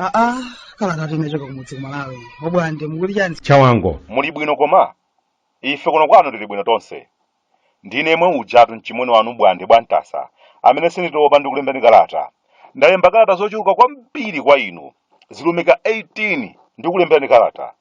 aa kalatatu inachoka kumudzi kumalawi obwande mukuti chani achawango muli bwino koma ife kuno kwathu tili bwino tonse Ndine yemwe ujatu mchimwene wanu Obwande bwa Ntasa amene sinditopa ndi kukulemberani kalata. Ndalemba kalata zochuluka kwambiri kwa inu, zilumika 18 ndikulemberani kalata,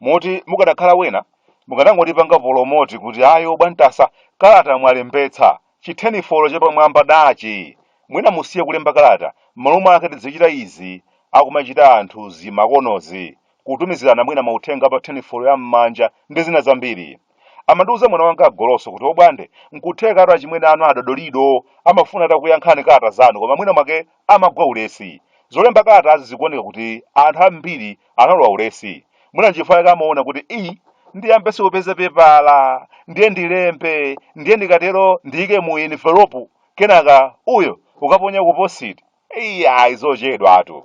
moti mukanakhala wena mukanangondipanga polomoti kuti ayo bwa Ntasa kalata mwalembetsa, chitheni folo chapamwamba dachi! Mwina musiye kulemba kalata, m'malo mwake tidzichita izi akumachita anthu zi makonozi, kutumizirana mwina mauthenga pa theni folo ya m'manja ndi zina zambiri. Amandiuza mwana wanga Goloso kuti obwande nkuthekatu achimwene anu a Dodolido amafuna atakuyankhani kalata zanu koma mwina mwake amagwa ulesi. Zolemba kalatazi zikuoneka kuti anthu ambiri analowa ulesi. Mwina nchifukwa chake amaona kuti ii ndiyambenso kupeza pepala ndiye ndilembe ndiye ndikatero ndiyike mu enivelopu kenaka uyu ukaponya ku positi. Eyi ayi zochedwatu.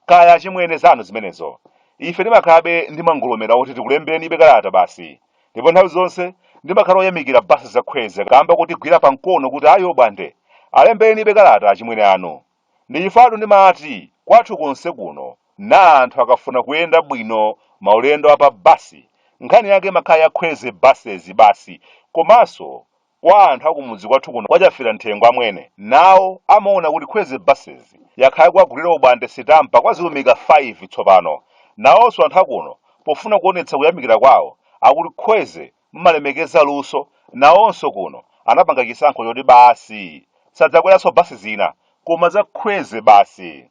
Kaya achimwene zanu zimenezo. Ife timakhalabe ndi mangolomera oti tikulemberenibe kalata basi. Ndipo nthawi zonse ndimakhala oyamikira basi za khweze kaamba kotigwira pa mkono kuti ayi obwande alemberenibe kalata achimwene anu. Ndi chifukwatu ndimati kwathu konse kuno nawo anthu akafuna kuyenda bwino maulendo a pa basi nkhani yake imakhala ya khweze buses basi komanso Kwa anthu akumudzi kwathu kuno kwa Chafiramthengo amwene nawo amaona kuti Khweze Buses yakhala ikuwagulira obwande sitampa kwa zilumika 5 tsopano. Nawonso anthu akuno pofuna kuonetsa kuyamikira kwawo akuti Khweze mumalemekeza luso nawonso kuno anapanga chisankho choti basi sadzakweranso bus zina koma za Khweze basi.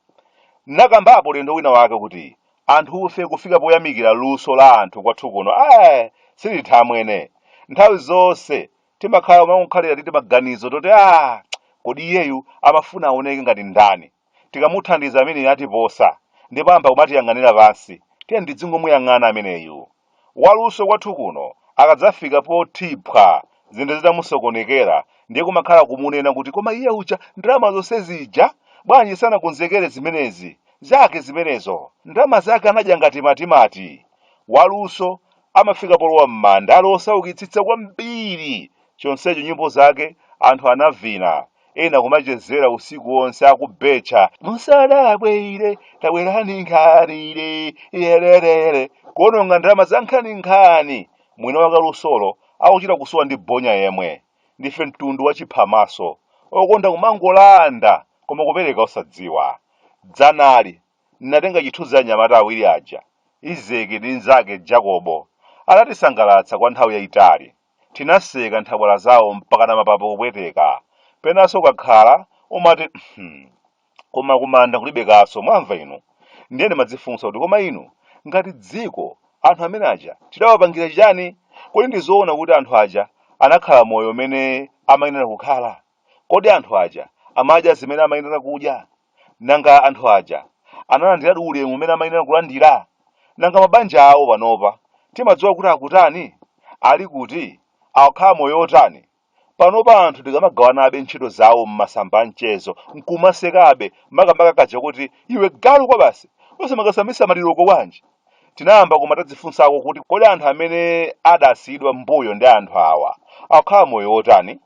Ndinakambapo ulendo wina wake kuti anthufe kufika poyamikira luso la anthu kwathu kuno ayi sititha amwene nthawi zonse timakhala timangokhalira ndi timaganizo toti a kodi iyeyu amafuna aoneke ngati ndani tikamuthandiza ameneyu atiposa ndipo ayamba kumatiyang'anira pansi tiyeni tidzingomuyang'ana ameneyu Waluso kwathu kuno akadzafika poti phwa zinthu zitamusokonekera ndiye kumakhala kumunena kuti koma iye uja ndalama zonse zija bwanji sanakonzekere zimenezi? Zake zimenezo. Ndalama zake anadya ngati matimati. Waluso amafika polowa m'manda ali wosaukitsitsa kwambiri chonsecho nyimbo zake anthu anavina ena kumachezera usiku wonse akubetcha musadabwe ire tabwerani nkhani ili yererere kuononga ndalama za nkhani nkhani mwina wakalusolo akuchita kusowa ndi bonya yemwe ndife mtundu wa chiphamaso okonda kumangolanda koma kupereka osadziwa dzanali ndinatenga chithunzi cha anyamata awiri aja izeki ndi nzake jakobo anatisangalatsa kwa nthawi yayitali Tinaseka nthabwala zawo mpakana mapapo kupweteka. Penanso ukakhala, umati hmm koma kumanda kulibe kaso mwamva inu? Ndiye ndimadzifunsa kuti koma inu, ngati dziko, anthu amene aja tidawapangira chiyani? Kodi ndizoona kuti anthu aja anakhala moyo umene amayenera kukhala? Kodi anthu aja amadya zimene amayenera kudya? Nanga anthu aja analandiradi ulemu umene amayenera kulandira? Nanga mabanja awo panopa timadziwa kuti akutani? Ali kuti? Akukhala moyo wotani? Panopa anthu tikamagawanabe ntchito zawo m'masamba a mchezo n'kumasekabe, makamaka kaja koti iwe galu kwabasi, osamakasambitsa maliroko bwanji? Tinayamba koma tadzifunsako kuti kodi anthu amene adasiyidwa m'mbuyo ndi anthu awa akukhala moyo wotani?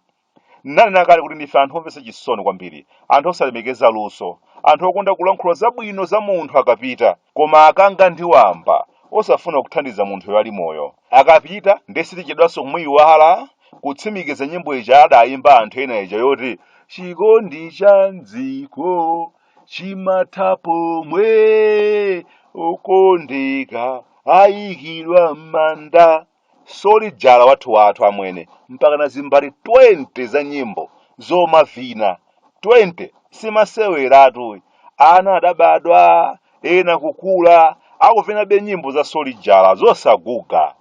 Ndinanena kale kuti ndife anthu omvetsa chisoni kwambiri, anthu osalemekeza luso, anthu okonda kulankhula zabwino za munthu akapita, koma akanga ndi wamba, osafuna kuthandiza munthuyo ali moyo. Akapita ndiye sitichedwanso kumuiwala, kutsimikiza nyimbo ija adaimba anthu ena ija yoti, Chikondi cha m'dziko chimatha pomwe okondeka aikidwa m'manda. Solijala wathu wathu amwene mpakana zimbale 20 za nyimbo zomavina 20 si maseweratu ana adabadwa ena kukula akuvinabe nyimbo za solijala zosaguga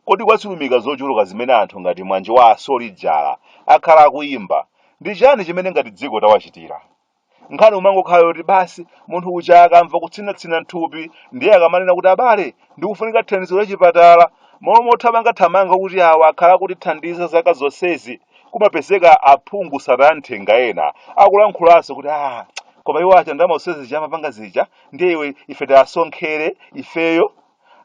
kodi kwa zilumika zochuluka zimene anthu ngati mwanje wa asolijala akhala akuyimba ndi chani chimene ngati dziko tawachitira nkhani kumangokhala yoti basi munthu uja akamva kutsinatsina m'thupi ndiye akamanena kuti abale ndikufunika thandizo la chipatala m'malo mothamangathamanga kuti awa akhala akutithandiza zaka zonsezi kumapezeka aphungu sataya nthenga ena akulankhulanso kuti ah koma iwo aja ndalama zonse zija amapanga zija ndiye iwe ife tiwasonkhere ifeyo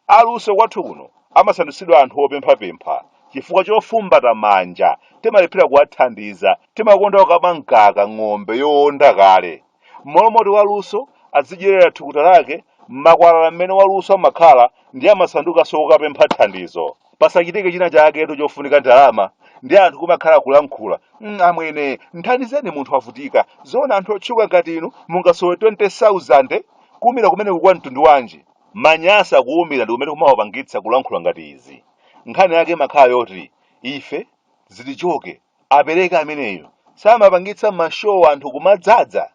Aluso kwathu kuno amasandutsidwa anthu opemphapempha chifukwa chofumbata manja, timalephera kuwathandiza, timakonda kukama mkaka ng'ombe yoonda kale. M'malo moti waluso adzidyerera thukuta lake, m'makwalala mmene waluso amakhala ndiye amasandukanso kokapempha thandizo. Pasachitike china chaketu chofunika ndalama, ndiye anthu kumakhala kulankhula, mm amwene, mthandizeni munthu wavutika, zoona anthu otchuka ngati inu mungasowe 20,000? Kuumira kumeneku kwa mtundu wanji? Manyasa kuumira ndikumene kumawapangitsa kulankhula ngati izi. Nkhani yake imakhala yoti ife zitichoke apereke ameneyu samapangitsa ma show anthu kumadzadza?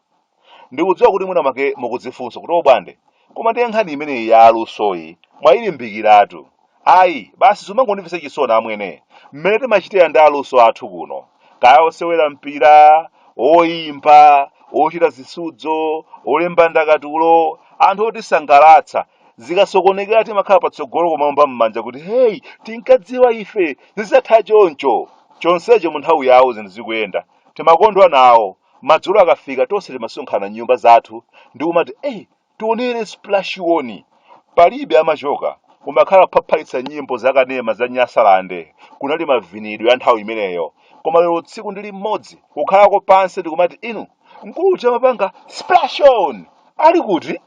Ndikudziwa kuti mwina mwake mukudzifunsa kuti obwande koma ndiye nkhani imeneyi ya alusoyi mwailimbikiratu Ayi, basi zimangondimvetsa chisoni amwene, mmene timachitira ndi aluso athu kuno, kaya osewera mpira, oimba, ochita zisudzo, olemba ndakatulo, anthu otisangalatsa, zikasokonekera timakhala patsogolo kumaomba m'manja kuti hey, tinkadziwa ife, zidzatha choncho! Chonsecho munthawi yawo zinthu zikuyenda, timakondwa nawo, madzulo akafika tonse timasonkhana m'nyumba zathu ndi kumati eh! Tionere splash on. Palibe amachoka, kumakhala kuphaphalitsa nyimbo za kanema za Nyasaland, kunali mavinidwe a nthawi imeneyo. Koma lero tsiku ndi limodzi, kukhalako pansi ndikumati inu, mkulu uja amapanga splash on! Ali kuti?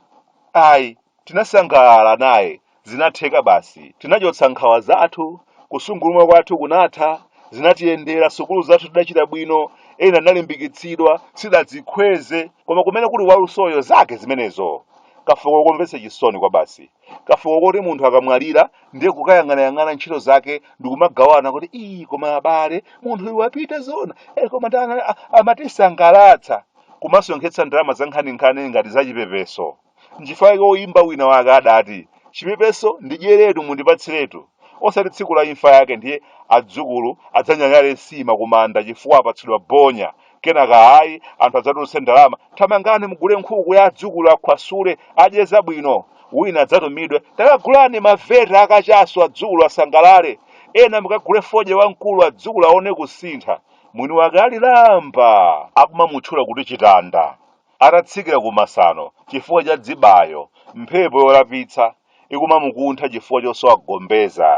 Ayi, tinasangalala naye, Zinatheka basi. Tinachotsa nkhawa zathu, kusungulumwa kwathu kunatha, zinatiyendera, sukulu zathu tidachita bwino, ena tinalimbikitsidwa, sitidadzikhweze, koma kumene kuli walusoyo zake zimenezo. Kafuko komvetsa chisoni kwabasi. Kafuko koti munthu akamwalira ndiye kukayang'anayang'ana ntchito zake ndikumagawana kuti ii koma abale munthu uyu wapita zona eh, koma ndana a- amatisangalatsa kumasonkhetsa ndalama zankhaninkhani ngati zachipepeso Nchifukwa chake woyimba wina wake adati, Chipepeso ndidyeretu mundipatsiretu, osati tsiku la imfa yake ndiye adzukulu adzanyanyale nsima kumanda chifukwa apatsidwa bonya, kenaka ayi, anthu adzatulutse ndalama, thamangani mugule nkhuku ya adzukulu akhwasule, adye zabwino, wina adzatumidwe, takagulani maveta akachasu adzukulu asangalale, ena mukagule fodya wamkulu adzukulu aone kusintha, mwini wake ali lamba! akumamutchula kuti chitanda. Atatsikira ku masano chifukwa cha dzibayo, mphepo yolapitsa ikumamukuntha chifukwa chosowa gombeza.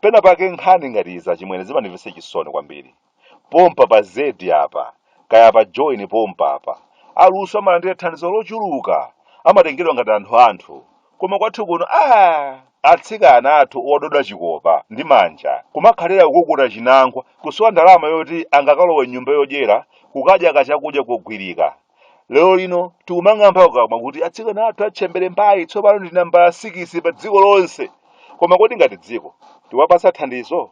Pena pake nkhani ngati izi achimwene zimandimvetsa chisoni kwambiri. Pompa pa zedi apa, kaya pa Joni pompa apa. Aluso amalandira thandizo lochuluka, amatengedwa ngati anthu anthu. koma kwathu kuno atsikana athu ododa chikopa ndi manja kumakhalira kukukuta chinangwa kusowa ndalama yoti angakalowe m'nyumba yodyera kukadya kachakudya kogwirika lero lino tikumang'amba kukamwa kuti atsikana athu a ntchembere mbaye tsopano ndi nambala sikisi pa dziko lonse koma kodi ngati dziko tikuwapatsa thandizo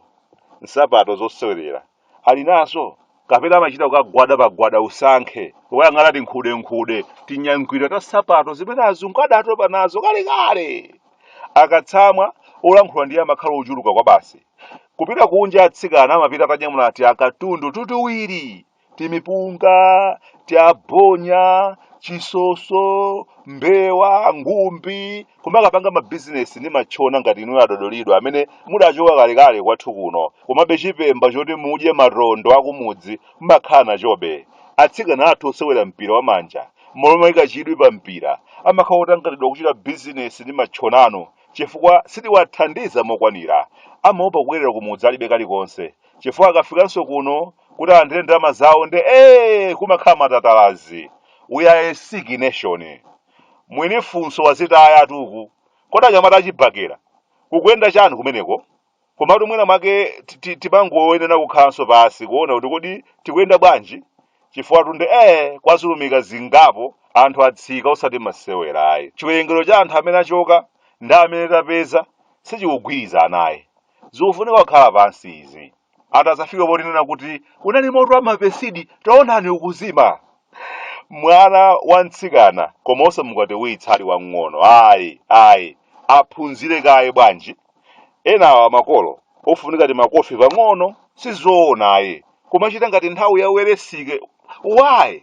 nsapato zosewerera ali nazo kapena amachita kukagwada pagwada usankhe kukayang'ana tinkhudenkhude tinyangwira ta nsapato zimene azungu adatopa nazo kalekale akatsamwa olankhula ndiye amakhala ochuluka kwabasi kupita kunja atsikana amapita atanyamula tiakatundu tutuwiri timipunga tiabonya chisoso mbewa ngumbi kumakapanga mabizinesi ndi matchona ngati inuyo adodolido amene mudachoka kalekale kwathu kuno komabe chipemba choti mudye matondo akumudzi mmakhala nachobe atsikana athu osewera mpira wamanja mmalo moika chidwi pa mpira amakhala otanganidwa kuchita bizinesi ndi matchonanu chifukwa sitiwathandiza mokwanira amaopa kubwerera kumudzi alibe kalikonse chifukwa akafikanso kuno kuti alandire ndalama zawo nde ee kumakhala matatalazi we are a sick nation Mwini funso wazitayatu uku kodi anyamata achibakera kukuyenda chani kumeneko komatu mwina mwake ti- ti- timangoyenera kukhalanso pansi kuona kuti kodi tikuyenda bwanji chifukwatu nde ee kwazulumika zingapo anthu atsika osati masewera ayi chiwerengero cha anthu amene achoka ndi amene tapeza sichikugwirizana ayi zikufunika kukhala pansi izi atazafika potinena kuti unali moto wa mapesidi taonani ukuzima mwana wa mtsikana koma osamukwatiwitsa ali wang'ono ayi ayi aphunzire kaye bwanji enawa makolo ofunika timakofi pang'ono sizoona ayi kumachita ngati nthawi ya Welensky why